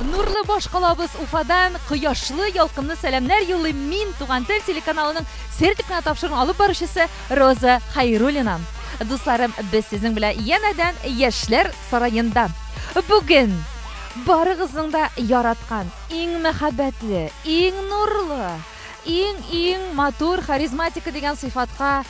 Нурлы баш калабыз Уфадан кояшлы, ялкынлы сәламнәр юллыйм мин Туган тел телеканалының сер дип кенә тапшыруын алып баручысы Роза Хайруллина. Дусларым, без сезнең белән янәдән Яшьләр сараенда. Бүген барыгызның да яраткан, иң мәхәббәтле, иң нурлы, иң-иң матур харизматика дигән сыйфатка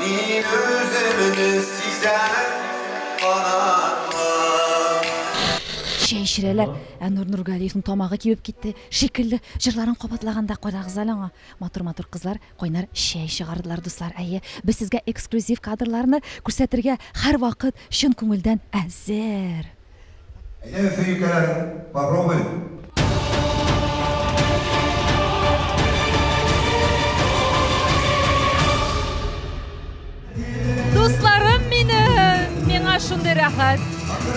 Мин үземне сизәм канатлы. Чәй эчерәләр. Ә Нур Нургалиевның тамагы кибеп китте шикелле, җырларын кабатлаганда кайдагыз әле аңа. Матур-матур кызлар кайнар чәй чыгардылар, дуслар. Әйе, без сезгә эксклюзив кадрларны күрсәтергә һәрвакыт чын күңелдән әзер. Әйдәгез, сөенкәләр, попробуем. Дусларым минем, миңа шундый рәхәт.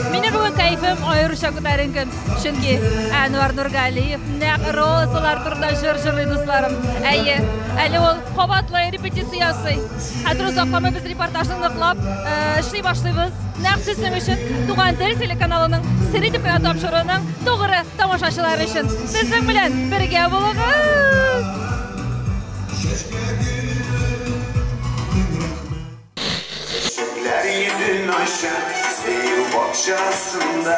Минем бүген кәйфем аеруча күтәренке, чөнки Әнвар Нургалиев нәкъ розалар турында җыр җырлый дусларым. Әйе, әле ул кабатлы репетиция ясый. Хәзер озакламый без репортажны ныклап эшли башлыйбыз. Нәкъ сезнең өчен Туган тел телеканалының сер итеп кенә тапшыруының тугры тамашачылары өчен. Сезнең белән бергә булыгыз! Чәчәкләр йөзен ача, сөю бакчасында.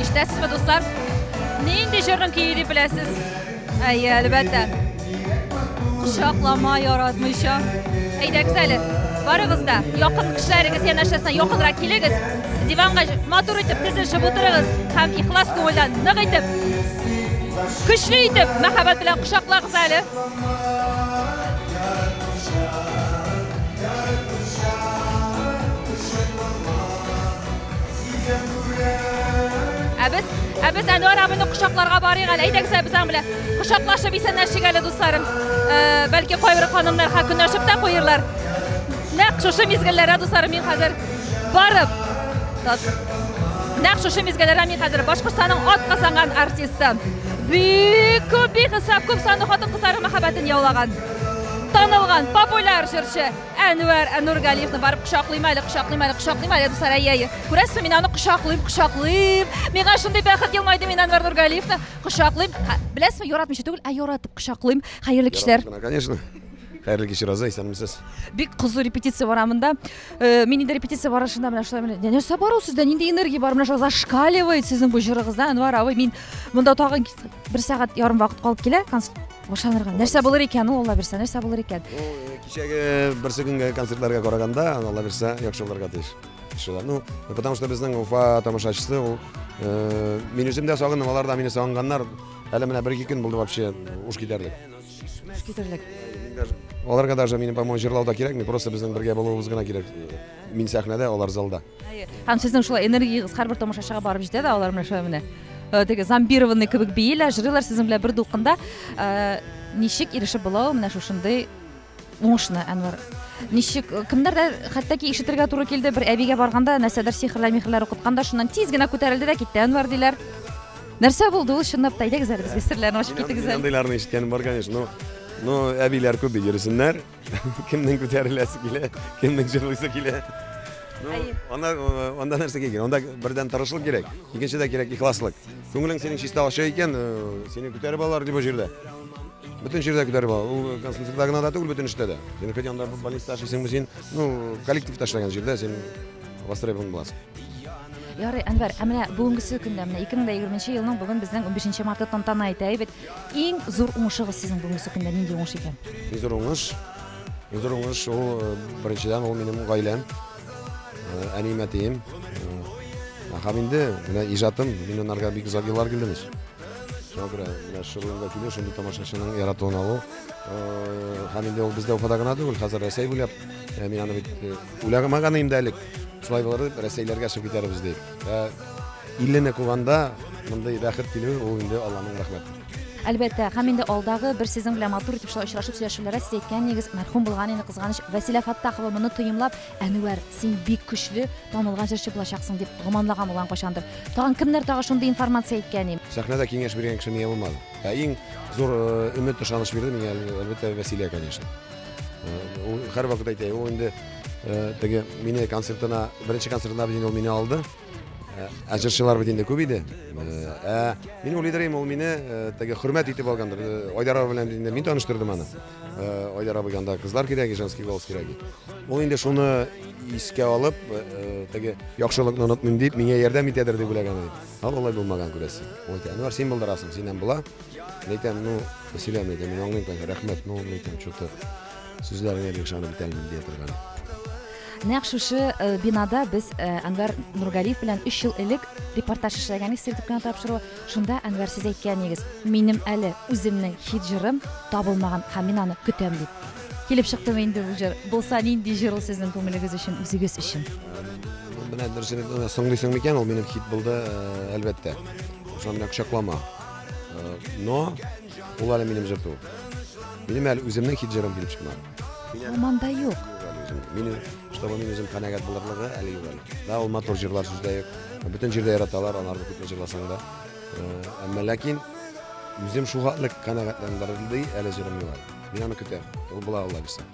Ишетәсезме, дуслар? Нинди җырның көе дип беләсез? Әйе, әлбәттә. Кочаклама яратмыйча. Әйдәгез әле. Барыгыз да якын кешеләрегез янәшәсенә якынрак килегез. Диванга матур итеп тезелешеп утырыгыз һәм ихлас күңелдән нык итеп, көчле итеп мәхәббәт белән кочаклагыз әле. Ә без, ә без Әнвәр абыйны кочакларга барыйк әле. Әйдәгез без аның белән кочаклашып исәнләшик әле, дусларым. Э, бәлки кайбер ханымнар ха көнләшеп тә куерлар. Нәкъ шушы мизгелләрдә, дусларым, мин хәзер барып Нәкъ шушы мизгелләрдә мин хәзер Башкортстанның ат казанган артисты. Бик күп, бик исәп күп санлы хатын-кызларның мәхәббәтен яулаган. Танылган популяр җырчы Әнвәр Әнургалиевны барып кочаклыйм әле, кочаклыйм әле, кочаклыйм әле, дуслар, әйе, әйе. Күрәсезме, мин аны кочаклыйм, кочаклыйм. Миңа шундый бәхет елмайды, мин Әнвәр Нургалиевны кочаклыйм. Хә, Беләсезме, яратмыйча түгел, ә яратып кочаклыйм. Хәерле кичләр. Яратып кына, конечно. Хәерле кич, Роза, исәнмесез. Бик кызу репетиция бара монда. Э, Мин инде репетиция барышында менә шулай менә. Нә- Нәрсә бар ул сездә? Нинди энергия бар? Менә шулай зашкаливает сезнең бу җырыгызда, Әнвәр абый. Мин монда тагын кит- бер сәгать ярым вакыт калып килә. конс- Ошанырга. Нәрсә булыр икән ул, Алла бирсә, нәрсә булыр икән? Кичәге берсе көнгә концертларга караганда, Алла бирсә, яхшы булырга тиеш. Шулай. Ну, потому что безнең Уфа тамашачысы ул э, мин үзем дә сагындым, алар да мине сагынганнар. Әле менә бер-ике көн булды вообще уш китәрлек. Уш китәрлек. Аларга даже минем, по-моему, җырлау да кирәкми, просто безнең бергә булуыбыз гына кирәк. Мин сәхнәдә, алар залда. Һәм сезнең шулай энергиягез һәрбер тамашачыга барып җитә дә, алар менә шулай менә э, теге зомбированный кебек биеләр, җырлыйлар сезнең белән бер дулкында. Э, ничек ирешеп була ул менә шушындый уңышны, Әнвәр? Ничек э, кемнәр дә хәтта ки ишетергә туры килде, бер әбигә барганда нәрсәдер сихрләр, михрләр укыткан да, шуннан тиз генә күтәрелде дә китте Әнвәр диләр. Нәрсә булды ул чынлап та әйдәгез әле безгә серләрне ачып китегез әле. Андыйларны ишеткәнем бар, конечно, но но әбиләр күп бит йөрсеннәр. кемнең күтәреләсе килә кемнең җырлыйсы килә анда анда нәрсә кирәк анда бердән тырышлык кирәк икенчедә кирәк ихласлык күңелең синең чиста ачы икән сине күтәреп алалар любой җирдә бөтен җирдә күтәреп алалар ул консульствода гына да түгел бөтен эштә дә син хоть анда больницада эшлисеңме син ну коллективта эшләгән җирдә син востребован буласың Ярый, Әнвәр, ә менә бүгенгесе көндә, менә 2020 елның бүген безнең 15 марты тантана итә, әйбәт. Иң зур уңышыгыз сезнең бүгенге көндә нинди уңыш икән? Иң зур уңыш, иң зур уңыш ул э, беренчедән ул минем гаиләм, э, әнием, әтием. Э, һәм инде менә иҗатым, мин анарга бик озак еллар килдемез. Шуңа күрә менә шыгырга килү, шундый тамашачының яратуын алу. Э, һәм инде ул бездә Уфада гына түгел, хәзер Рәсәй буйлап, э, мин аны бит э, уйламаган идем дә элек. Шулай булыр дип, Рәсәйләргә чыгып китәрбез дип. Ә иллене куганда мондый бәхет килү ул инде Алланың рәхмәте. Әлбәттә, һәм инде алдагы бер сезон белән матур итеп шулай очрашып сөйләшүләрдә сез әйткән идегез, мәрхүм булган инде кызганыч Вәсилә Фаттахова моны тоемлап, Әнүәр, син бик көчле, танылган җырчы булачаксың дип гоманлаган булган кайчандыр. Тагын кемнәр тагы шундый информация әйткән ди? Сәхнәдә киңәш биргән кеше мия булмады. Ә иң зур э, өмет, ышаныч бирде миңа әлбәттә Вәсилә, конечно. Э, ул һәрвакыт әйтә, ул инде Э, теге мине концертына беренче концертына бит ул мине алды э, ә җырчылар бит инде күп иде э, ә мин уйлыйдырым ул мине теге хөрмәт итеп алгандыр айдар абый белән инде мин таныштырдым аны айдар абый анда кызлар кирәге женский голос кирәге ул инде шуны искә алып теге яхшылыкны онытмыйм дип миңа ярдәм итәдер дип уйлаган иде а алай булмаган күрәсең ул әйтә әнвәр син булдырасың синнән була әйтәм ну мәсьәлә әйтәм мин аңлыйм рәхмәт ну әйтәм что то Сүзләреңә бик ышанып бетә инде дип торган. Нәкъ шушы э, бинада без э, Әнвәр Нургалиев белән 3 ел элек репортаж эшләгән идек сиртеп кенә тапшыру. Шунда Әнвәр сез әйткәнегез, минем әле үземнең хит җырым табылмаган һәм мин аны көтәм дип. Килеп чыктымы инде бу җыр? Булса нинди җыр ул сезнең күңелегез өчен, үзегез өчен? Менә дөресен әйтмәгән, соңлыйсың микән? Ул минем хит булды, э, әлбәттә. Шуның белән кочаклама. Э, Но Ул әле минем җыр түгел. Минем әле үземнең хит җырым килеп чыкмады. Ул монда юк. Мин чтобы мин үзем канәгать булырлыгы әле юк әле. Да ул матур җырлар сүздә юк. Бөтен җирдә яраталар, анарны күпме җырласаң да. Э, әмма ләкин үзем шул хәтле канәгатьләндерелде әле җырым юк әле. Мин аны көтәм. Ул була алла бирсә.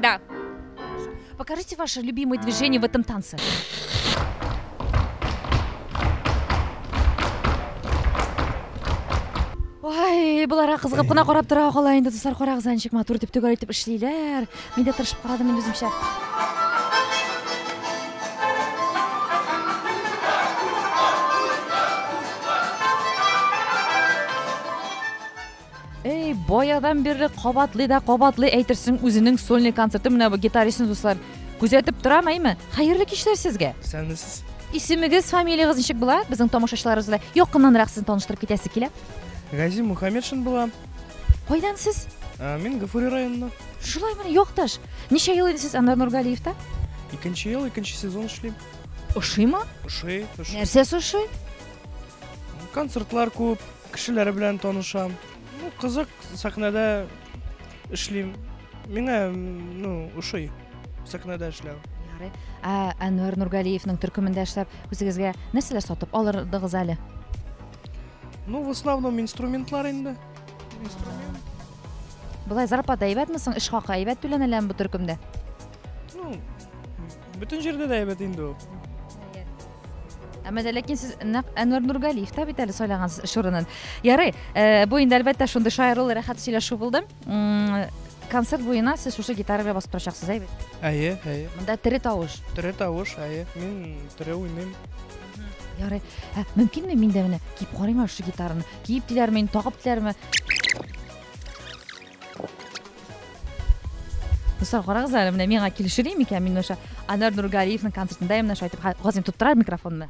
Да. Покажите ваши любимые движения в этом танце. Ой, болар кызыгып кына карап тора кала инде дуслар карагыз ничек матур дип төгәл итеп эшлиләр. Мин дә тырышып карадым инде үземчә. Эй, баядан бирле кабатлый да кабатлый әйтерсең үзенең сольный концерты менә бу гитаристны дуслар. Күзәтеп торам, әйме? Хәерле кичләр сезгә. Сәлмесез. Исемегез, фамилиягез ничек була? Безнең тамашачыларыбыз белән якыннанрак сезне таныштырып китәсе килә. Гази Мухаммедшин була. Кайдан сез? Ә, мин Гафури районыннан. Шулай менә якташ. Ничә ел инде сез Анар Нургалиевта? Икенче ел, икенче сезон эшлим. Ошыймы? Ошый, ошый. Нәрсәсе ошый? Концертлар күп, кешеләр белән танышам. Ну, кызык, сәхнәдә эшлим. Миңа, ну, ошый сәхнәдә эшләү. Ярый. Ә Әнвәр Нургалиевның төркемендә эшләп, үзегезгә нәрсәләр сатып алырдыгыз әле? Ну, в основном инструментлар инде. Инструмент. Былай зарплата әйбәтме соң? Эш хакы әйбәт түләнеләме бу төркемдә? Ну, Бөтен җирдә дә әйбәт инде ул. Әмма дә ләкин сез нәкъ Әнвәр Нургалиев та бит әле сайлагансыз эш урынын. Ярый, э, бу инде әлбәттә шундый шаярулы рәхәт сөйләшү булды. М, Концерт буена сез шушы гитара белән басып торачаксыз, әйбәт. Әйе, әйе. Монда тере тавыш. Тере тавыш, әйе. Мин тере уйныйм. Ярый. Ә, мөмкинме мин дә менә киеп карыйм әле шушы гитараны? Киеп диләрме, инде, тагып диләрме? Дуслар, карагыз әле, менә миңа килешер микән мин ошо Анар Нургалиевның концертында именно шулай итеп Газим тоттырар микрофонны.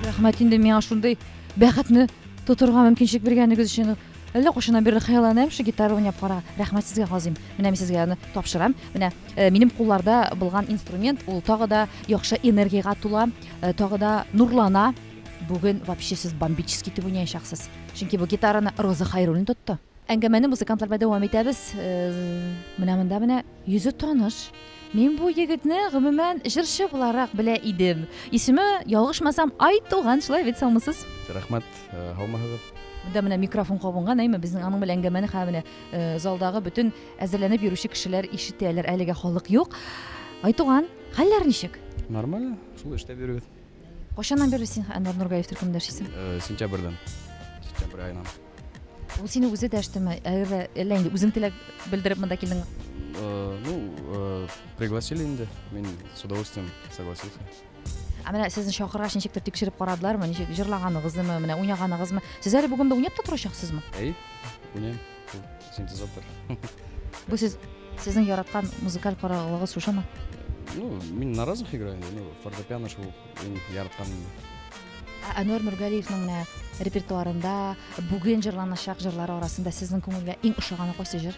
Рәхмәт инде миңа шундый бәхетне тотырга мөмкинчелек биргәнегез өчен. Әллә кайчаннан бирле хыялланам шул гитара уйнап карарга. Рәхмәт сезгә казыйм. Менә мин сезгә аны тапшырам. Менә э, минем кулларда булган инструмент, ул тагы да яхшы энергиягә тула, э, тагы да нурлана. Бүген вообще сез бомбический итеп уйнаячаксыз. Чөнки бу гитараны Роза Хайруллин тотты. Әңгәмәне музыкантлар белән дәвам итәбез. Э, менә монда менә йөзе таныш. Мин бу егетне гомумән җырчы буларак белә идем. Исеме, ялгышмасам, Айтуган, шулай бит, салмысыз? Рәхмәт. Һаумыһыгыз. Монда менә микрофон кабынган, әйме безнең аның белән әңгәмәне хә менә залдагы бөтен әзерләнеп йөрүче кешеләр ишетәләр. Әлегә халык юк. Айтуган, хәлләр ничек? Нормально. Шул эштә йөрибез. Кайчаннан бирле син Әнвәр Нургаев төркемендә эшлисең? Сентябрьдән. Сентябрь аеннан. Ул сине үзе дәштеме? Әллә әллә инде үзең теләк белдереп монда килдең? Ну, пригласили инде. Мин с удовольствием согласился. Ә менә сезне чакыргач ничектер тикшереп карадылармы? Ничек җырлаганыгызмы, менә уйнаганыгызмы? Сез әле бүген дә уйнап та торачаксызмы? Әй, уйнайм. Синтезатор. Бу сез сезнең яраткан музыкаль караулыгыз шушымы? Ну, мин на разных играю, ну, фортепиано шул иң яратканым. Ә Әнвәр Нургалиевның менә репертуарында бүген җырланачак җырлар арасында сезнең күңелгә иң ошаганы кайсы җыр?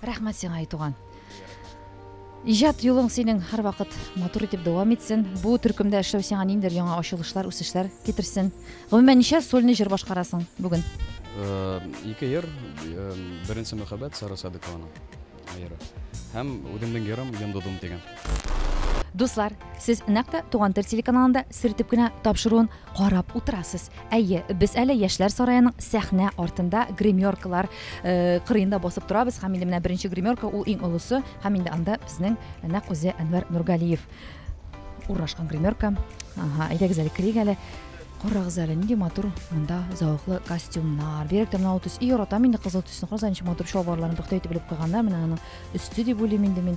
Рәхмәт сиңа, ай туган. Иҗат юлың синең һәрвакыт матур итеп дәвам итсен. Бу төркемдә эшләү сиңа ниндидер яңа ачылышлар, үсешләр китерсен. Гомумән, ничә сольный җыр башкарасың бүген? Э, ике җыр. Э, беренче мәхәббәт Сара Садыкованың җыры. Һәм үземнең җырым Йондудым дигән. Дуслар, сез нәкъ тә Туган тел телеканалында сертеп кенә тапшыруын Карап утырасыз. Әйе, без әле Яшьләр сараеның сәхнә артында гримеркалар э, кырыенда басып торабыз һәм инде менә беренче гримерка ул иң олысы һәм инде анда безнең нәкъ үзе Әнвәр Нургалиев урнашкан гримерка. Ага, әйдәгез әле керик әле. Карагыз әле, нинди матур монда зәвыклы костюмнар. Бигрәк тә менә ул төс. И, яратам инде кызыл төсне. Карагыз әле, ничек матур чалбарларын пөхтә итеп белеп куйганнар. Менә аның өсте дип уйлыйм инде мин.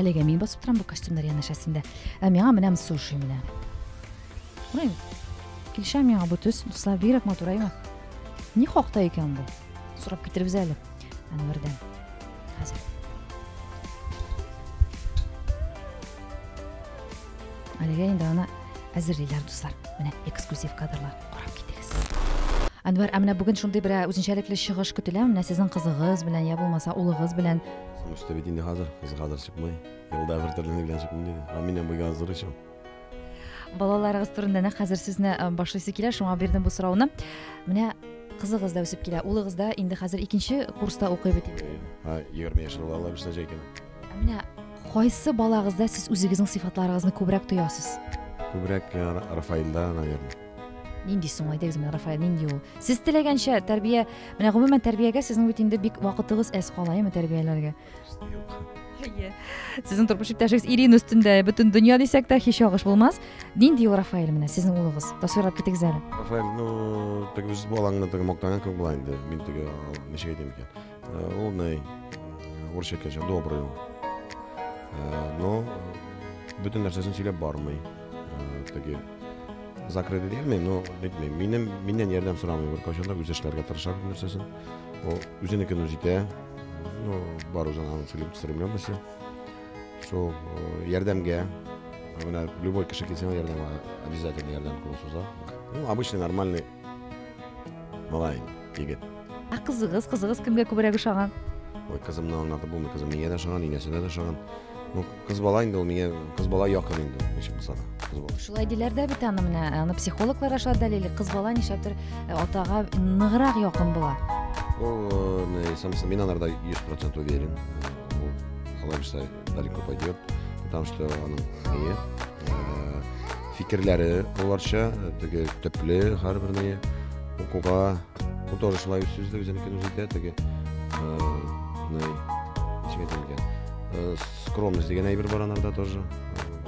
Әлегә мин басып торам бу костюмнар янәшәсендә. Ә миңа менә суши менә. Күрәм. Килешә миңа бу төс. Дуслар, бигрәк матур әйме? Ни хакта икән бу? Сорап китербез әле. Әнвәрдән. Хәзер. Әлегә инде аны әзерлиләр, дуслар. Менә эксклюзив кадрлар. Карап китегез. Әнвәр, ә менә бүген шундый бер ә, үзенчәлекле чыгыш көтелә, менә сезнең кызыгыз белән, я булмаса улыгыз белән. Сумышта бит инде хәзер, кыз хәзер чыкмый. Елда бер төрле белән чыкмый диде. Ә минем бу языр өчен. Балаларыгыз турында нәкъ хәзер сүзне ә, башлыйсы килә, шуңа бирдем бу сорауны. Менә кызыгыз да үсеп килә, улыгыз да инде хәзер икенче курста укый бит. Ә, 20 яшьлек балалар бишенче икән. Ә менә Кайсы балагызда сез үзегезнең сыйфатларыгызны күбрәк тоясыз? Күбрәк Рафаилда, наверное. Нинди соң әйтегез менә Рафаил, нинди ул? Сез теләгәнчә тәрбия, менә гомумән тәрбиягә сезнең бит инде бик вакытыгыз әз кала, яме тәрбияләргә. Әйе. Сезнең тормыш иптәшегез Ирин өстендә бөтен дөнья дисәк тә һич агыш булмас. Нинди ул Рафаил менә сезнең улыгыз? Тасвирлап китегез әле. Рафаил, ну, теге үз балаңны теге мактаган кебек була инде. Мин теге ничек әйтим икән? Ул ней урысча кеше добрый ул. Но бөтен нәрсәсен сөйләп бармый. Теге закрыты дигәнме, но әйтмей. Минем миннән ярдәм сорамый бер кайчан да үз эшләргә тырыша бит нәрсәсен. Ул үзенекен үз итә. Ну, бар үзен аның сөйләп сөрмәм эше. Шул ярдәмгә Именно любой кошек, если он ярдам, обязательно ярдам кылу суза. Ну, обычный, нормальный Малай, егет. Ә кызыгыз, кызыгыз кемгә күбрәк ошаган? Ой, кызымны аңлатып булмый, кызым миңа да ошаган, инәсенә дә ошаган. Ну, кыз бала инде ул миңа, кыз бала якын инде, ничек булса да, кыз бала. Шулай диләр дә бит аны менә, аны психологлар аша дәлили, кыз бала нишләптер э, атага ныграк якын була. Ул, э, мин анарда 100% уверен. Ул, алай булса, Далеко пойдет, потому что аның не, э, фикерләре боларча, теге төпле һәрберне укуга художественный сүз дә үзенекен үзе итә, теге э, скромность дигән әйбер бар анарда тоже.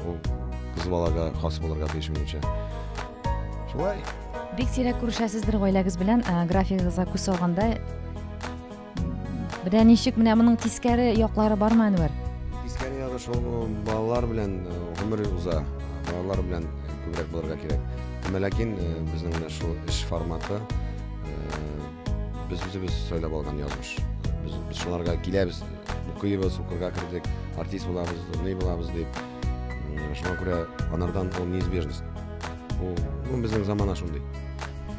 Ул кыз балага хас булырга тиеш минемчә. Шулай. Бик сирәк күрешәсездер гаиләгез белән, графигыгызга күз салганда Менә ничек менә моның тискәре яклары бармы, Әнвәр? Тискәре ягы шул балалар белән гомер уза. Балалар белән күбрәк булырга кирәк. Әмма ләкин безнең менә шул эш форматы без үзебез сайлап алган язмыш. Без, без шуларга киләбез, укыйбыз, укырга кердек, артист булабыз, ни булабыз дип. Шуңа күрә анардан ул неизбежность. Ул, ну, безнең замана шундый.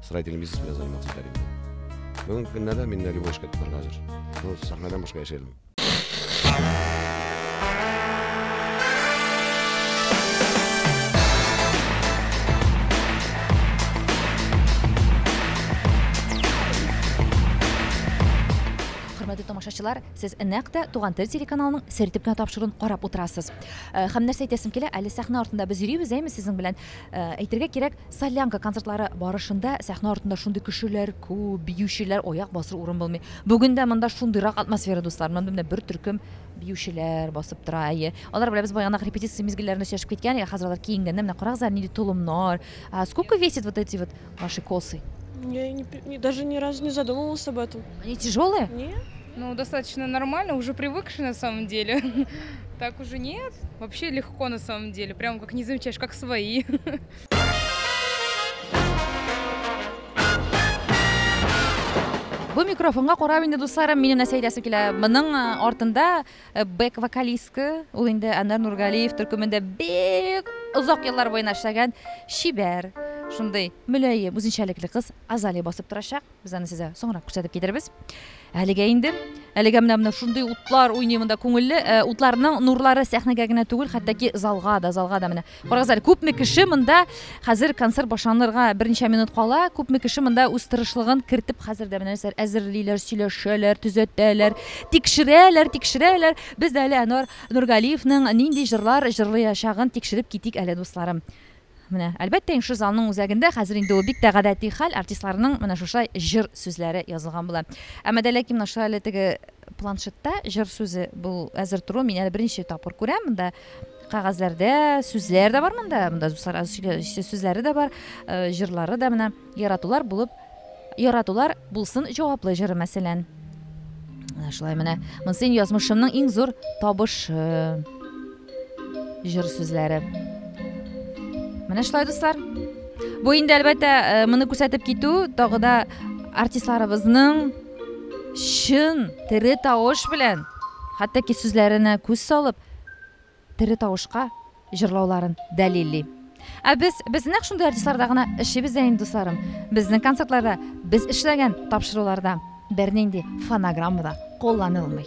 строительный бизнес белән заниматься итәр идем. Бүгенге көннә дә мин любой эшкә тотарга әзер. Ну, сәхнәдән башка яши алмыйм. Хөрмәтле тамашачылар, сез нәкъ тә Туган тел телеканалының сер итеп кенә тапшыруын карап утырасыз. Э, Һәм нәрсә әйтәсем килә, әле сәхнә артында без йөрибез, әйме сезнең белән. Әйтергә кирәк, Солянка концертлары барышында сәхнә артында шундый кешеләр күп, биючеләр, аяк басыр урын булмый. Бүген дә монда шундыйрак атмосфера, дуслар. Монда менә бер төркем биючеләр басып тора, әйе. Алар белән без баягынак репетиция мизгелләрендә сөйләшеп киткән, ә хәзер алар киенгәннәр, менә карагыз әле, нинди толымнар. А сколько весят вот эти вот ваши косы? Я и не, даже ни разу не задумывалась об этом. Они тяжелые? Нет. Ну, достаточно нормально, уже привыкши на самом деле. Так уже нет. Вообще легко на самом деле. Прям как не замечаешь, как свои. Бу микрофонга карап инде дусларым, минем нәрсә әйтәсе килә. Моның э, артында э, бэк вокалистка, ул инде Анар Нургалиев төркемендә бик озак еллар буена эшләгән шибәр, шундый мөләем, үзенчәлекле кыз Азали басып торачак. Без аны сезгә соңрак күрсәтеп китербез. Әлегә инде әлегә менә менә шундый утлар уйный монда күңелле. Э, утларның нурлары сәхнәгә генә түгел, хәтта залга да, залга да менә. Карагыз әле, күпме кеше монда хәзер концерт башланырга берничә минут кала, күпме кеше монда үз тырышлыгын кертеп хәзер дә менә нәрсәләр әзерлиләр, сөйләшәләр, төзәтәләр, тикшерәләр, тикшерәләр. Без дә әле Әнвар Нургалиевның нинди җырлар җырлаячагын тикшереп китик әле, дусларым. Менә, әлбәттә инг шы залның үзәгендә, хәзер инде ул бик тә гадәти хәл, артистларның менә шушай җыр сүзләре язылган була. Әмма дә ләкин менә шулай әле теге планшетта җыр сүзе бул әзер торуын мин әле беренче тапкыр күрәм. Монда кәгазьләрдә сүзләр дә бар монда, монда сара сүзләре дә бар, җырлары да менә. Яратулар булып Яратулар булсын җаваплы җыры мәсәлән. Менә шулай менә. Мөсин язмышымның иң зур табышы. Җыр сүзләре. Менә шулай дуслар. Бу инде әлбәттә э, моны күрсәтеп китү тагы да артистларыбызның чын тере тавыш белән хәтта ки сүзләренә күз салып тере тавышка җырлауларын дәлилли. Ә без, без нәкъ шундый артистларда гына эшлибез дә инде, дусларым. Безнең концертларда, без эшләгән тапшыруларда бернинди фонограмма да кулланылмый.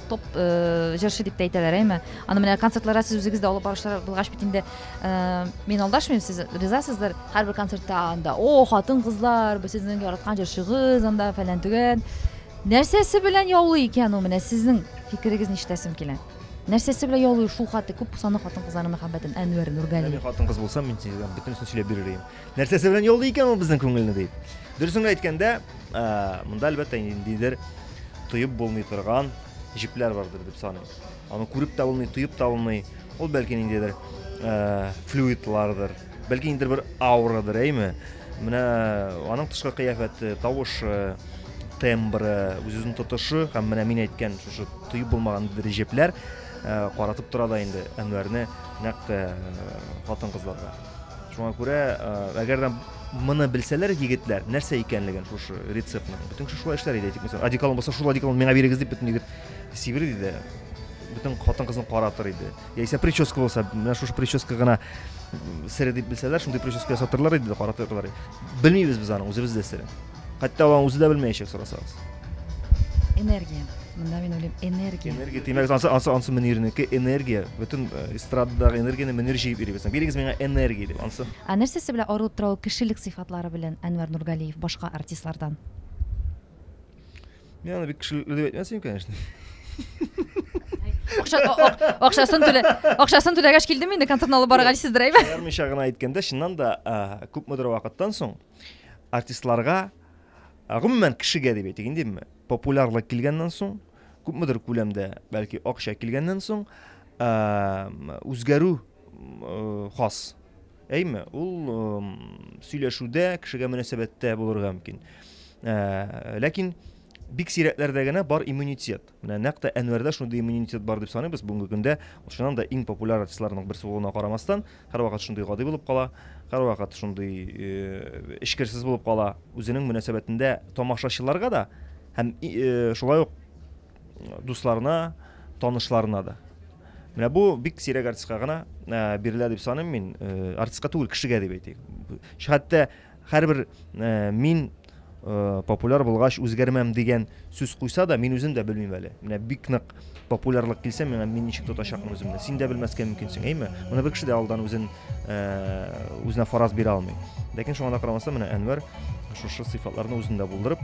Топ җырчы дип тә әйтәләр, әйме? Аны менә концертларга сез үзегез дә алып баручылар булгач бит инде, мин алдашмыйм, сез ризасыздыр. Һәрбер концертта анда, о, хатын-кызлар, бу сезнең яраткан җырчыгыз, анда фәлән-төгән. Нәрсәсе белән яулый икән ул? Менә сезнең фикерегез ништәсем килә? Нәрсәсе белән яулый шул хаты күп саны хатын-кызларның мәхәббәтен Әнвәр Нургали? Мин хатын-кыз булсам, мин сезгә бөтенесен сөйләп бирер идем. нәрсәсе белән яллый икән ул безнең күңелне дип. Дөресен әйткәндә, монда әлбәттә ниндидер тоеп булмый торган җепләр бардыр дип саныйм. Аны күреп тә булмый, тоеп та булмый. Ул бәлки ниндидер флюидлардыр, бәлки ниндидер бер аурадыр, әйме? Менә аның тышкы кыяфәте, тавышы, тембры, үз-үзен тотышы һәм менә мин әйткән шушы тоеп булмаган бер җепләр каратып тора да инде Әнвәрне нәкъ хатын-кызларга. Шуңа күрә, әгәр дә моны белсәләр егетләр, нәрсә икәнлеген шушы рецептны. Бөтен кеше шулай эшләр иде, тик мәсәлән, одеколон булса, шул одеколон миңа бирегез дип бөтен егет сибер иде. Бөтен хатын кызын каратыр иде. Яисә прическа булса, менә шушы прическа гына сер дип белсәләр, шундый прическа ясатырлар иде, каратырлар иде. Белмибез без аны, үзебез дә сер. Хәтта алан үзе дә белмәячәк сорасагыз. Энергия. Монда мин уйлыйм, энергия. Энергия димәк, ансы ансы ансы Мөнирнеке энергия. Бөтен э, эстрададагы энергияне Мөнир җыеп йөри безнең. Бирегез миңа энергия дип ансы. Ә нәрсәсе белән арылып тора ул кешелек сыйфатлары белән Әнвәр Нургалиев башка артистлардан? Мин аны бик кешелек дип әйтмәсем, конечно. Акча, а- а- акчасын түлә, акчасын түләгәч килдем инде концертны алып барырга дисездер әйбә. Аермыйча гына әйткәндә, чыннан да, а, күпмедер вакыттан соң артистларга, гомумән кешегә дип әйтик инде, популярлык килгәннән соң, күпмедер күләмдә, бәлки акча килгәннән соң, үзгәрү хас. Әйме, ул сөйләшүдә, кешегә мөнәсәбәттә булырга мөмкин. Ләкин бик сирәкләрдә генә бар иммунитет. Менә нәкъ тә Әнвәрдә шундый иммунитет бар дип саныйбыз, бүгенге көндә ул чыннан да иң популяр артистларның берсе булуына карамастан, һәрвакыт шундый гади булып кала, һәрвакыт шундый эчкерсез булып кала, үзенең мөнәсәбәтендә тамашачыларга да һәм шулай ук дусларына, танышларына да. Менә бу бик сирәк артистка гына бирелә дип саныйм мин, артистка түгел, кешегә дип әйтик. Хәтта Һәрбер мин популяр булгач үзгәрмәм дигән сүз куйса да, мин үзем дә белмим әле. Менә бик нык популярлык килсә, миңа мин ничек тотачакмын үземне. Син дә белмәскә мөмкинсең, әйме? Моны бер кеше дә алдан үзен үзенә фараз бирә алмый. Ләкин шуңа да карамастан, менә Әнвәр шушы сыйфатларны үзендә булдырып,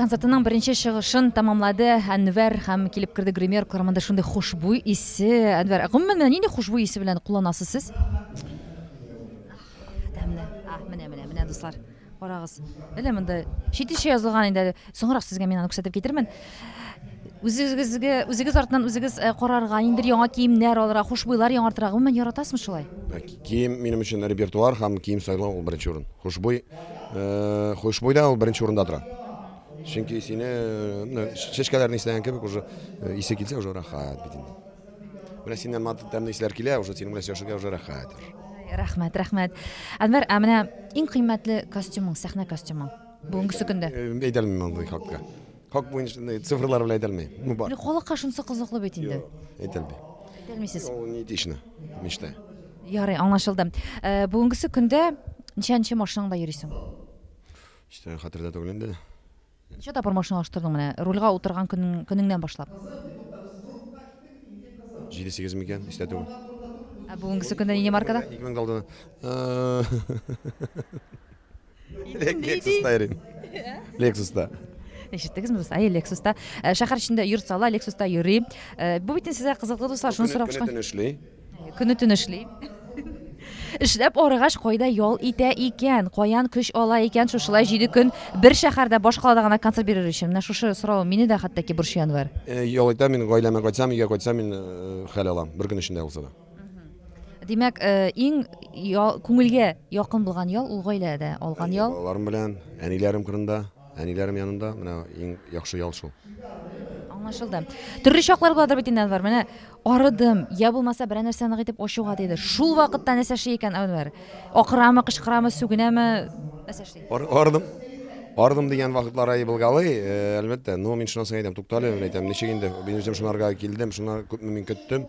Концертының беренче чыгышын тәмамлады Әнвәр һәм килеп керде гример кырымында шундый хушбуй исе. Әнвәр, гомумән менә нинди хушбуй исе белән кулланасыз сез? Тәмле. А, менә, менә, менә дуслар. Карагыз. Әле монда читеше язылган инде. Соңрак сезгә мин аны күрсәтеп китермен. Үзегезгә, үзегез артыннан үзегез э, карарга, инде яңа киемнәр алырга, хушбуйлар яңартырга. Гомумән яратасызмы шулай? Кием минем өчен репертуар һәм кием сайлау ул беренче урын. Хушбуй Хушбуй да ул беренче урында тора. Чөнки исене, менә чәчкәләрне исләгән кебек уже исе килсә уже рәхәт бит инде. Менә синнән мат тәмле исләр килә, уже синең белән сөйләшергә уже рәхәт. Рәхмәт, рәхмәт. Әнвәр, ә менә иң кыйммәтле костюмың, сәхнә костюмың бүгенгесе көндә? Әйтә алмыйм андый хакта. Хак буенча э, цифрлар белән әйтелми. Ну бар. Халыкка шунсы кызыклы бит инде. Әйтелми. Әйтелмисез. Ул не этично. Мечта. Ярый, аңлашылды. Э, бүгенгесе көндә ничәнче машинаңда йөрисең? Иштән хәтердә түгел инде. Ничә тапкыр машина алыштырдың менә? Рульга утырган көнең- көнеңнән башлап. 7-8 микән? Истә түгел. Ә бүгенгесе көндә нинди маркада? 2000 калды. Э, Лексуста йөрим. Лексуста. Ишеттегез ми Әйе, Лексуста. Э, шәһәр эчендә йорт сала, Лексуста йөри. Э, бу бит сезгә кызыклы дуслар, шуны сорап шуны. Көне эшли. Көне төн эшли. Эшләп арыгач кайда ял итә икән? Каян көч ала икән шушылай 7 көн бер шәһәрдә баш калада гына концерт бирер өчен? Менә шушы сорау мине дә хәтта ки борчыян бар. Э, ял итә мин гаиләмә кайтсам, өйгә кайтсам мин хәл алам. Бер көн эчендә булса да. Димәк, э, иң ял, күңелгә якын булган ял ул гаиләдә алган ял. Балаларым белән, әниләрем кырында, әниләрем янында менә иң яхшы ял шул. Аңлашылды. Төрле чаклар буладыр бит инде Әнвәр. Менә арыдым, я булмаса берәр нәрсә нык итеп ачуга тиде. Шул вакытта нәрсә эшли икән Әнвәр? Акырамы, кычкырамы, сүгенәме? Нәрсә эшли? Ар, ардым. Ардым дигән вакытлар ай булгалый, э, әлбәттә. Но мин шуннан соң әйтәм, туктале, мин әйтәм, ничек инде, мин үзем шунарга килдем, шуна күпме мин көттем.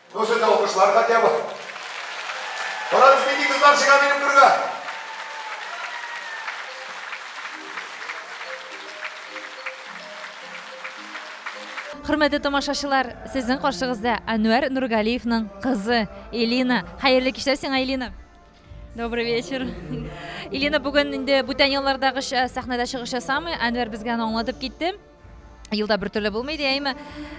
Ну сез алкышлар хотя бы. Карагыз, нинди кызлар чыга минем түргә. Хөрмәтле тамашачылар, сезнең каршыгызда Әнвәр Нургалиевның кызы Элина. Хәерле кичләр сиңа, Элина. Добрый вечер. Элина бүген инде бүтән еллардагыча сәхнәдә чыгыш ясамый. Әнвәр безгә аны аңлатып китте. Елда бер төрле булмый дияйме?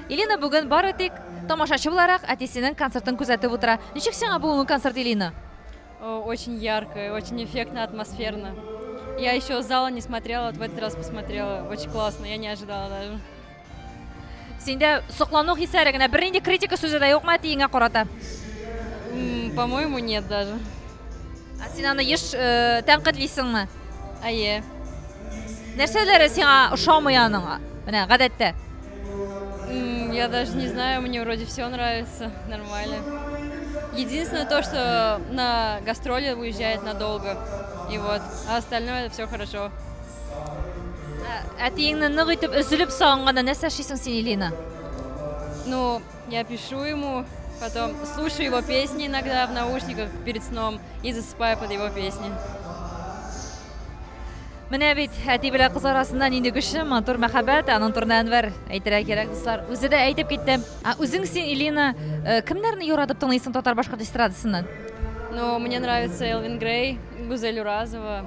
Илина бүген бары тик тамашачы буларак әтисенең концертын күзәтеп утыра. Ничек сиңа бүгенге концерт, Илина? Очень ярко, очень эффектно, атмосферно. Я еще зала не смотрела, вот в этот раз посмотрела. Очень классно, я не ожидала даже. Синдә соклану хисләре генә, бернинди критика сүзе дә юкмы әтиеңә карата? По-моему, нет даже. Ә син аны еш э, тәнкыйтьлисеңме? Әйе. Нәрсәләре сиңа ошамый аның? Менә гадәттә. М, Я даже не знаю, мне вроде все нравится, нормально. Единственное то, что на гастроли уезжает надолго. И вот, а остальное все хорошо. Ә- Әтиеңне нык итеп өзелеп сагынганнан нәрсә эшлисең син, Илина? Ну, Я пишу ему, потом слушаю его песни иногда в наушниках перед сном и засыпаю под его песни. Менә бит әти белән кыз арасында нинди көчле матур мәхәббәт, аның турында Әнвәр әйтергә кирәк, дуслар. Үзе дә әйтеп китте. А үзең син, Илина, э, кемнәрне яратып тыңлыйсың татар-башкорт эстрадасыннан? Ну, мне нравится Элвин Грей, Гузель Уразова,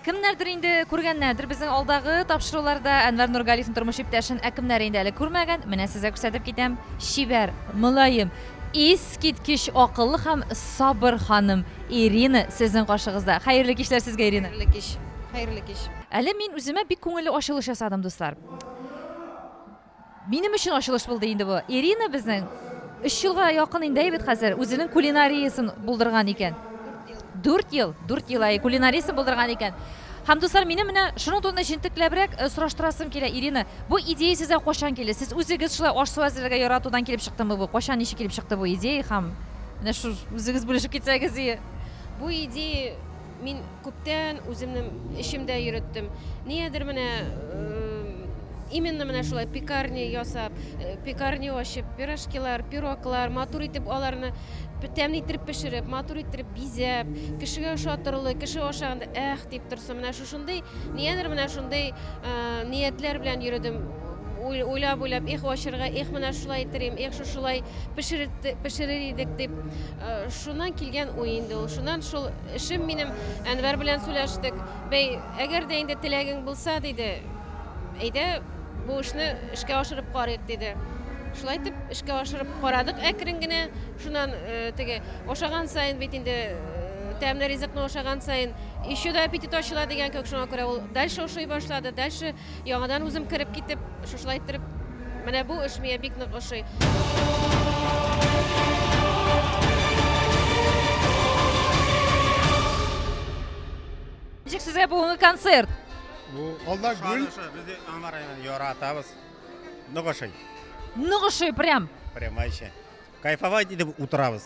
Кемнәрдер инде күргәннәрдер безнең алдагы тапшыруларда Әнвәр Нургалиевнең тормыш иптәшен, ә кемнәр инде әле күрмәгән, менә сезгә күрсәтеп китәм, чибәр, мөлаем, искиткеч акыллы һәм сабыр ханым Ирина сезнең каршыгызда. Хәерле кичләр сезгә, Ирина! Хәерле кич! Хәерле кич! Әле мин үземә бик күңелле ачылыш ясадым, дуслар. Минем өчен ачылыш булды инде бу. Ирина безнең өч елга якын инде әйбит хәзер үзенең кулинариясен булдырган икән. Дүрт ел, дүрт ел, әй, кулинариясен булдырган икән. Һәм, дуслар, минем менә шуның турында җентекләбрәк сораштырасым килә, Ирина, бу идея сезгә кайчан килде? Сез үзегез шулай аш-су әзерләргә яратудан килеп чыктымы бу? Кайчан, ничек килеп чыкты бу идея һәм менә шул үзегез бүлешеп китсәгез, и. Бу идея. Мин күптән үземнең эчемдә йөреттем. Ниядер менә именно менә шулай пекарня ясап, э, пекарня ачып, пирожкилар, пироглар, матур итеп аларны тәмле иттереп пешереп, матур иттереп бизәп, кешегә ошатырлы, кеше ашаганда эх дип торсын. Менә шушындый, ниядер менә шундый э, ниятләр белән йөрдем. уйлап-уйлап, их, вачырга, их, менә шулай итер идем, их, шушылай пешерер идек дип, шуннан килгән уй инде ул. Шуннан шул эшем минем Әнвәр белән сөйләштек. Бәй, әгәр дә инде теләгең булса, диде, әйдә, бу эшне эшкә ашырып карыйк, диде. Шулай итеп, эшкә ашырып карадык әкрен генә. Шуннан теге ашаган сайын бит инде тәмле ризыкны ашаган сайын еще да аппетит ачыла дигән кебек шуңа күрә ул дальше ошый башлады дальше Яңадан үзем кереп китеп, шушылай иттереп, менә бу эш миңа бик нык ошый. Ничек сезгә бүгенге концерт? Бу алда гүл. Без Анвар районын яратабыз. Ныгышый. Ныгышый прям. Прямайча. Кайфовать итеп утырабыз.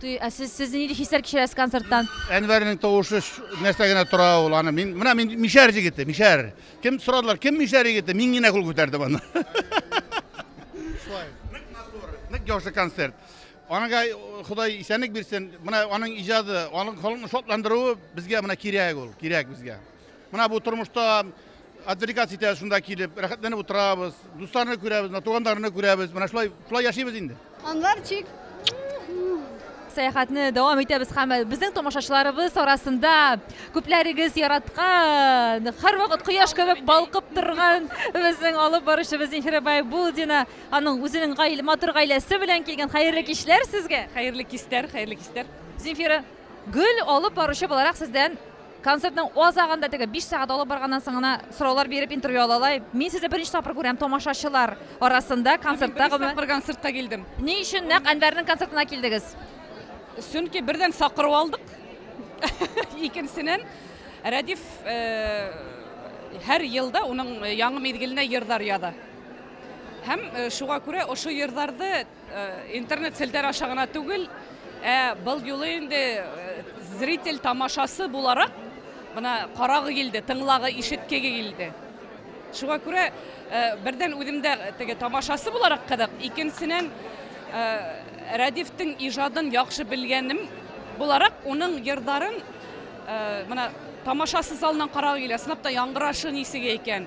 Туй, ә сез сез нинди хисләр кичерәсез концерттан? Әнвәрнең тавышы нәрсә генә тора ул аны. Мин менә мин мишәр җигете, мишәр. Кем сорадылар, кем мишәр егете? Мин генә кул күтәрдем аны. Шулай. Ник матур, ник яхшы концерт. Анага Ходай исәнлек бирсен. Менә аның иҗаты, аның халыкны шатландыруы безгә менә кирәк ул, кирәк безгә. Менә бу тормышта отвлекаться итә шунда килеп, рәхәтләнеп утырабыз, дусларны күрәбез, менә туганнарны күрәбез. Менә шулай шулай яшибез инде. Анварчик. Сәяхәтне дәвам итәбез һәм безнең тамашачыларыбыз арасында күпләрегез яраткан, һәрвакыт кояш кебек балкып торган безнең алып баручыбыз Зинхира Байбулдина, аның үзенең гаилә, матур гаиләсе белән килгән. Хәерле кичләр сезгә. Хәерле кистәр, хәерле кистәр. Зинфира, гөл алып баручы буларак сездән Концертның о азагында теге биш сәгать алып барганнан соң гына сораулар биреп интервью алалай. Мин сезне беренче тапкыр күрәм тамашачылар арасында концертта гомум. Беренче тапкыр концертка килдем. Ни өчен нәкъ Әнвәрнең концертына килдегез? Чөнки бердән сакыру алдык. Икенченнән Рәдиф һәр елда уның яңы мизгеленә йырдар яза. Һәм шуга күрә ошы йырдарды Интернет селтәр аша гына түгел, ә был юлы инде зритель тамашасы буларак мына карагы килде, тыңлагы, ишеткеге килде. Шуңа күрә бердән үзем дә теге тамашасы буларак кызык, икенчесеннән Рәдифтең иҗадын яхшы белгәнем буларак, уның йырдарын мына тамашасы залыннан карагы килә, сынап та яңгырашы нисеге икән.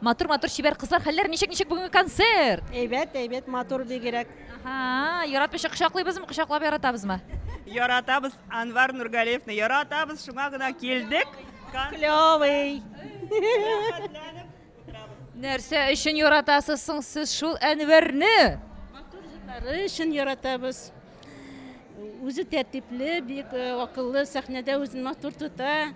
Матур матур чибәр кызлар хәлләр ничек ничек бүгенге концерт? Әйбәт, әйбәт, матур бигрәк. Ага, яратмыйча кочаклыйбызмы, кочаклап яратабызмы? Яратабыз Анвар Нургалиевны, яратабыз, шуңа гына килдек. Клёвый. Нәрсә өчен яратасыз соң сез шул Әнвәрне? Матур җырлары өчен яратабыз. Үзе тәртипле, бик э, акыллы, сәхнәдә үзен матур тота.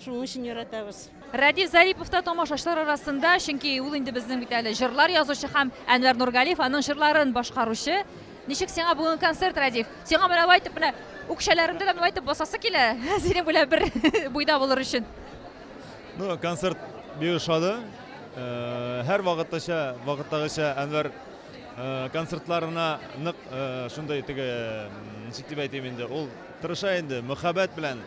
Шуның өчен яратабыз. Радив Зарипов та тамашачылар арасында, чөнки ул инде безнең бит әле җырлар язучы һәм Әнвәр Нургалиев аның җырларын башкаручы. Ничек сиңа бүгенге концерт, Радив? Сиңа менә алай итеп менә үкчәләреңдә дә алай итеп басасы килә. Синең белән бер буйда булыр өчен. Ну, концерт бик ошады. Э, Һәр вакыттача, вакыттагыча Әнвәр концертларына нык шундый теге ничек дип әйтим инде ул тырыша инде мөхәббәт белән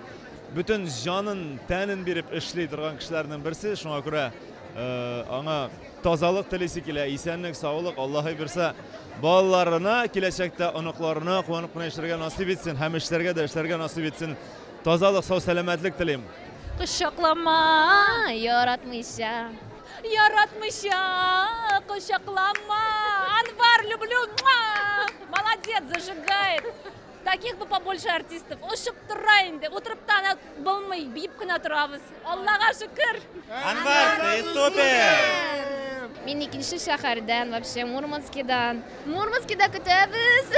бөтен җанын тәнен биреп эшли торган кешеләрнең берсе шуңа күрә аңа тазалык телисе килә исәнлек саулык аллаһы бирсә балаларына киләчәктә оныкларына куанып кына яшәргә насыйп итсен һәм эшләргә дә эшләргә насыйп итсен тазалык сау сәламәтлек телим кочаклама яратмыйча Яратмыйча кочаклама, Анвар, люблю, муа! Молодец, зажигает! Таких бы побольше артистов. Ошып тора инде. Утырып та ана булмый, биеп кенә торабыз. Аллага шөкер. Анвар, ты супер! Мин икенче шәһәрдән, вообще Мурманскидан. Мурманскида көтәбез.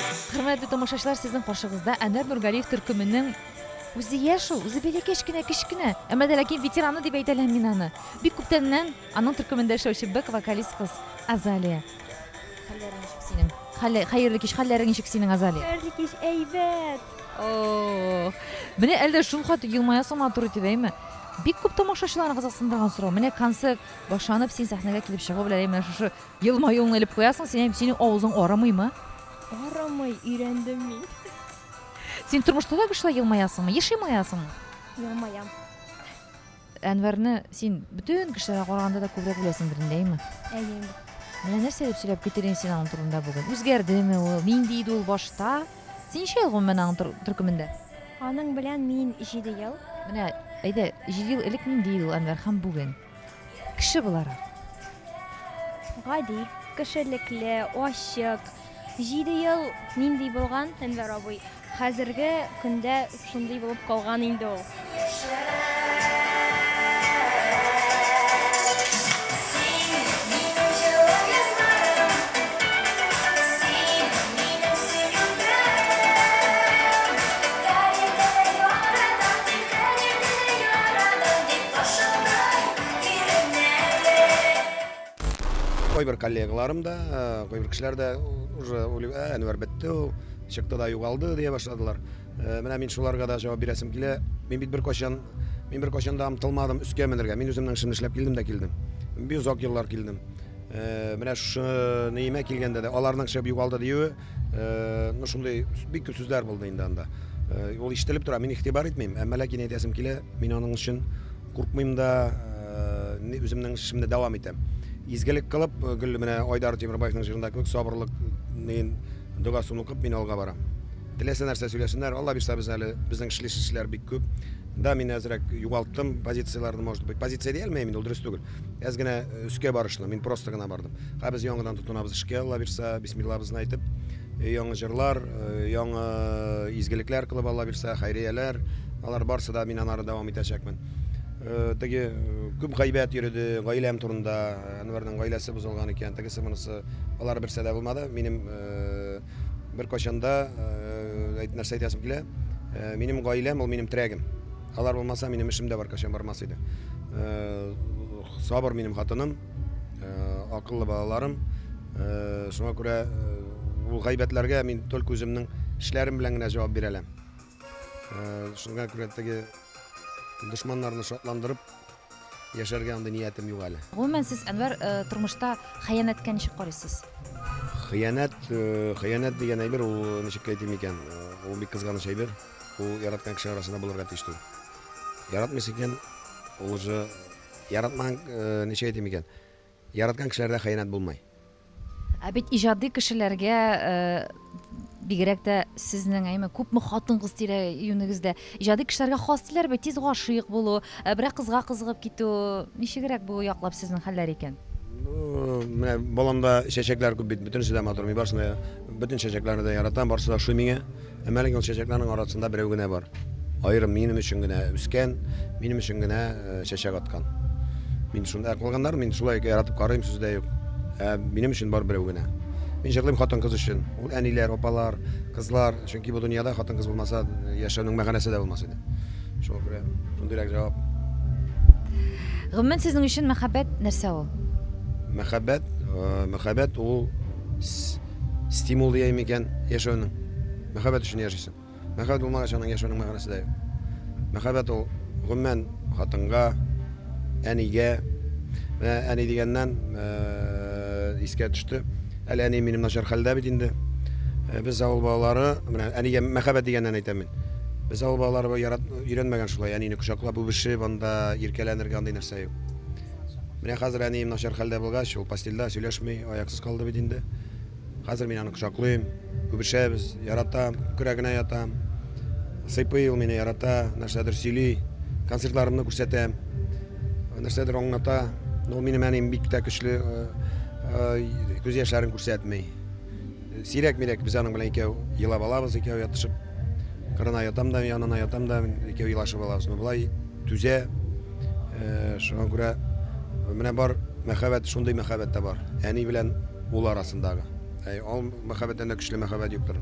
Хөрмәтле тамашачылар, сезнең каршыгызда Әнвәр Нургалиев төркеменең үзе яшь ул, үзе бәләкәч кенә, кечкенә, әмма дә ләкин ветераны дип әйтә ләм мин аны. Бик күптәннән аның төркемендә эшләүче бэк вокалист кыз Азалия. Хәлләрең ничек синең? Хәлле, хәерле кич, хәлләрең ничек синең, Азалия? Хәерле кич, әйбәт! Ох! Менә әле дә шул хат елмаясың матур итеп, әйме? Бик күп тамашачыларны кызыксындырган сорау. Менә концерт башланып, син сәхнәгә килеп чыгу белән, әй менә шушы Елмаюыңны элеп куясың, син әйм, синең авызың арымыймы? Арымый, өйрәндем мин. Син тормышта да шулай елмаясыңмы? Еш елмаясыңмы? Елмаям. Әнвәрне син бөтен кешеләргә караганда да күбрәк беләсеңдер инде, әйме? Әйе. Менә нәрсә дип сөйләп китер инде син аның турында бүген? Үзгәрдеме ул? Нинди иде ул башта? Син ничә ел гомумән аның төркемендә? Аның белән мин 7 ел. Менә әйдә, 7 ел элек нинди иде ул Әнвәр һәм бүген? Кеше буларак. Гади, кешелекле, ачык. Җиде ел нинди булган, Әнвәр абый? Хәзерге көндә шундый булып калган инде ул. Кайбер коллегаларым да, кайбер кешеләр дә уже уйлый, ә, Әнвәр бетте ул, чыкты да югалды, дия башладылар. Менә мин шуларга да җавап бирәсем килә. Мин бит беркайчан, мин беркайчан да омтылмадым өскә менергә. Мин үземнең эшемне эшләп килдем дә килдем. Бик озак еллар килдем. Менә шушы Нәимә килгәндә дә аларның чыгып югалды диюе, ну шундый бик күп сүзләр булды инде анда ул ишетелеп тора мин игътибар итмим әмма ләкин әйтәсем килә мин аның өчен куркмыйм да үземнең эшемне дәвам итәм изгелек кылып гел менә айдар тимербаевның җырында кебек сабырлык догасын укып мин алга барам теләсә нәрсә сөйләсеннәр алла бирса без әле безнең эшлиш эшләр бик күп да мин әзрәк югалттым позицияләрне может быть позиция дия алмыйм инде ул дөрес түгел Әз генә э, өскә барышлы, мин просто гына бардым. Ха без яңадан тотынабыз эшкә, Алла бирсә, бисмиллабызны әйтеп, э, яңа җырлар, э, яңа изгелекләр кылып Алла бирсә, хәйрияләр, алар барсы да мин анары дәвам итәчәкмен. Теге күп гайбәт йөрде, гаиләм турында, Әнвәрнең гаиләсе бозылган икән, тегесе монысы, алар берсе дә булмады. Минем бер качанда әйт нәрсә әйтәсем килә. Минем гаиләм ул минем трәгем. Алар булмаса, минем эшем дә баркачан бармас иде. Э, сабыр минем хатыным, э, акыллы балаларым. Э, шуңа күрә ул гайбәтләргә мин только үземнең эшләрем белән генә җавап бирә алам. Шуңа күрә теге дошманнарны шатландырып, Яшәргә андый ниятем юк әле. Гомумән сез, Әнвәр, э, тормышта хыянәткә ничек карыйсыз? Хыянәт, э, хыянәт дигән әйбер ул э, ничек әйтим икән, ул бик кызганыч әйбер. Ул яраткан кеше арасында булырга тиеш түгел. Яратмыйсы икән, ул уже яратмаган ничек әйтим икән? Яраткан кешеләрдә хыянәт булмый. Ә бит иҗади кешеләргә, бигрәк тә сезнең, әйме, күпме хатын-кыз тирә-юнегездә, иҗади кешеләргә хас диләр бит, тиз гашыйк булу, берәр кызга кызыгып китү. Ничегрәк бу яклап сезнең хәлләр икән? Ну, менә баламда чәчәкләр күп бит, бөтенесе дә матур. Мин барысын да, бөтен чәчәкләрне дә яратам, барысы да ошый миңа. Әмма әлеге ул чәчәкләрнең арасында берәү генә бар. Аерым минем өчен генә үскән, минем өчен генә э, чәчәк аткан. Мин шунда кылганнар, мин шулай яратып карыйм, сүз дә юк. Ә минем өчен бар берәү генә. Мин җырлыйм хатын-кыз өчен. Ул әниләр, апалар, кызлар, чөнки бу дөньяда хатын-кыз булмаса, яшәүнең мәгънәсе дә булмас иде. Шуңа күрә шундыйрак җавап. Гомумән сезнең өчен мәхәббәт нәрсә ул? Мәхәббәт, э, мәхәббәт ул с- Стимул дияйме икән яшәүнең? Мәхәббәт өчен яшисең. Мәхәббәт булмагач, аның яшәүнең мәгънәсе дә юк. Мәхәббәт ул гомумән хатынга, әнигә. Менә әни дигәннән э, искә төште. Әле әни минем начар хәлдә бит инде. Э, без авыл балалары, менә әнигә мәхәббәт дигәннән әйтәм мин. Без авыл балалары ярат, өйрәнмәгән шулай әнине кочаклап үбешеп, анда иркәләнергә андый нәрсә юк. Менә хәзер әнием начар хәлдә булгач, ул постельдә сөйләшми, аяксыз калды бит инде. Хәзер мин аны кочаклыйм, үбешәбез, яратам, күкрәгенә ятам. Сыйпый ул мине, ярата, нәрсәдер сөйли, концертларымны күрсәтәм, нәрсәдер аңлата. Ул минем әнием бик тә көчле, күз яшьләрен күрсәтми. Сирәк-мирәк без аның белән икәү елап алабыз, икәү ятышып. Кырына ятам да, янына ятам да, икәү елашып алабыз. Но болай түзә. Э, шуңа күрә менә бар мәхәббәт, шундый мәхәббәт тә бар. Әни белән ул арасындагы. Әй, ул мәхәббәттән дә көчле мәхәббәт юктыр.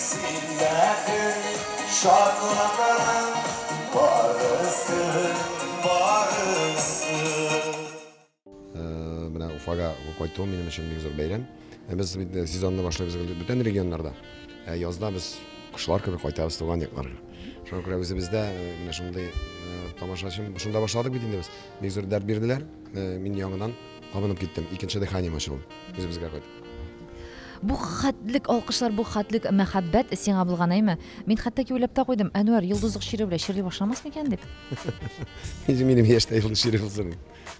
Син бәхет шатлыгым барысы, барысы. Менә Уфага кайтуым минем өчен бик зур бәйрәм. Без бит сезонны башлыйбыз инде бүтән регионнарда. Ә язда без кошлар кебек кайтабыз туган якларга. Шуңа күрә үзебездә менә шундый тамашачым, шунда башладык бит инде без. Бик зур дәрт бирделәр, мин яңадан кабынып киттем, икенче дыханием ачылды, үзебезгә кайт. Бу хәтлек алкышлар, бу хәтлек мәхәббәт сиңа булган, әйме? Мин хәтта ки уйлап та куйдым, Әнвәр йолдызлык чире белән чирли башламас микән дип. Инде минем яшьтә юлы чире булсын.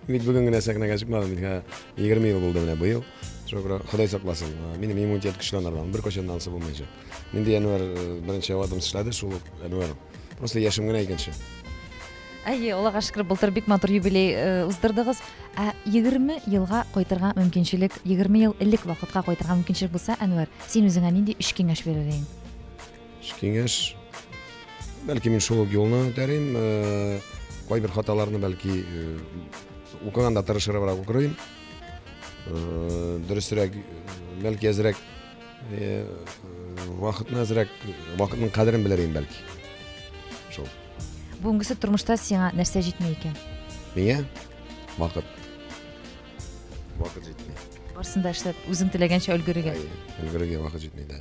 Бит бүген генә сәхнәгә чыкмадым, бит 20 ел булды менә быел. Шөкер, Ходай сакласын. Минем иммунитет көчләнергән, бер качан да ансы булмаячак. Инде Әнвәр э, беренче авадым эшләде, шул Әнвәр. Просто яшем генә икенче. Әйе, Аллага шөкер, былтыр бик матур юбилей э, уздырдыгыз. Ә 20 елга кайтырга мөмкинчелек, 20 ел элек вакытка кайтырга мөмкинчелек булса, Әнвәр, син үзеңә нинди өч киңәш бирер идең? Үз киңәш бәлки мин шул ук юлны үтәрим э, кайбер хаталарны бәлки э, укыганда тырышырыбрак укырым Э, дөресрәк э, бәлки әзрәк э, вакытны әзрәк вакытның кадерен белер идем бәлки шул Бүгенгесе тормышта сиңа нәрсә җитми икән? Миңа вакыт. Вакыт җитми. Барсын да эшләп, үзең теләгәнчә өлгерергә. Өлгерергә вакыт җитми дә.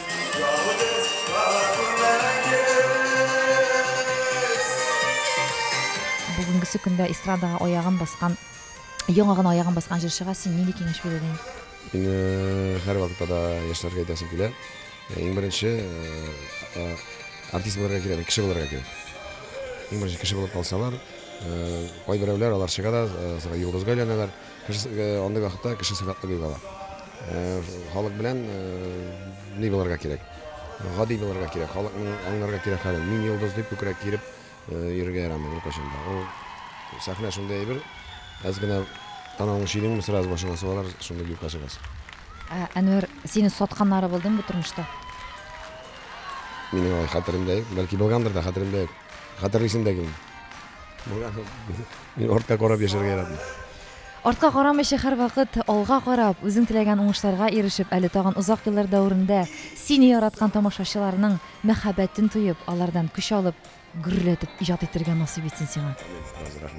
Ягыгыз кара күрмәгез. Бүгенгесе көндә эстрадага аягын баскан, яңа гына аягын баскан җырчыга син нинди киңәш бирер идең? Мине һәрвакытта да яшьләргә әйтәсем килә. Иң беренче артист булырга кирәкми, кеше булырга кирәк. Иң беренче кеше булып калсалар, кайберәүләр алар чыга да, йолдызга әйләнәләр. Кешесе андый вакытта кеше сыйфатлы бик ала. Халык белән ни булырга кирәк? Гади булырга кирәк. Халыкның аңларга кирәк хәлен. Мин йолдыз дип күкрәк киереп йөрергә ярамый беркайчан да. Ул сәхнә шундый әйбер, әз генә танавыңны чөйдеңме, сразу башыңа сугалар, шундый юкка чыгасың. Әнвәр, сине сатканнары булдымы тормышта? Минем алай хәтеремдә юк. Бәлки булгандыр да, хәтеремдә юк. Хәтерлисең дә килми. Мин артка карап яшәргә яратмыйм. Артка карамыйча һәрвакыт алга карап, үзең теләгән уңышларга ирешеп, әле тагын озак еллар дәверендә сине яраткан тамашачыларның мәхәббәтен тоеп, алардан көч алып, гөрләтеп иҗат итәргә насыйп итсен сиңа. Амин. Рәхмәт.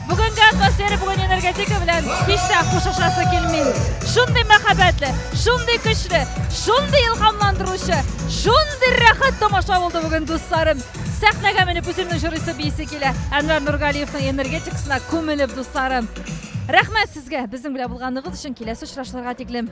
Бүгенге атмосфера бүген энергетика белән һич тә кушышасы килми. Шундый мәхәббәтле, шундый көчле, шундый илһамландыручы, шундый рәхәт тамаша булды бүген дусларым. Сәхнәгә менеп үземне җырыйсы бийсе килә. Әнвәр Нургалиевның энергетикасына күмелеп дусларым. Рәхмәт сезгә безнең белән булганыгыз өчен киләсе очрашуларга тиклем.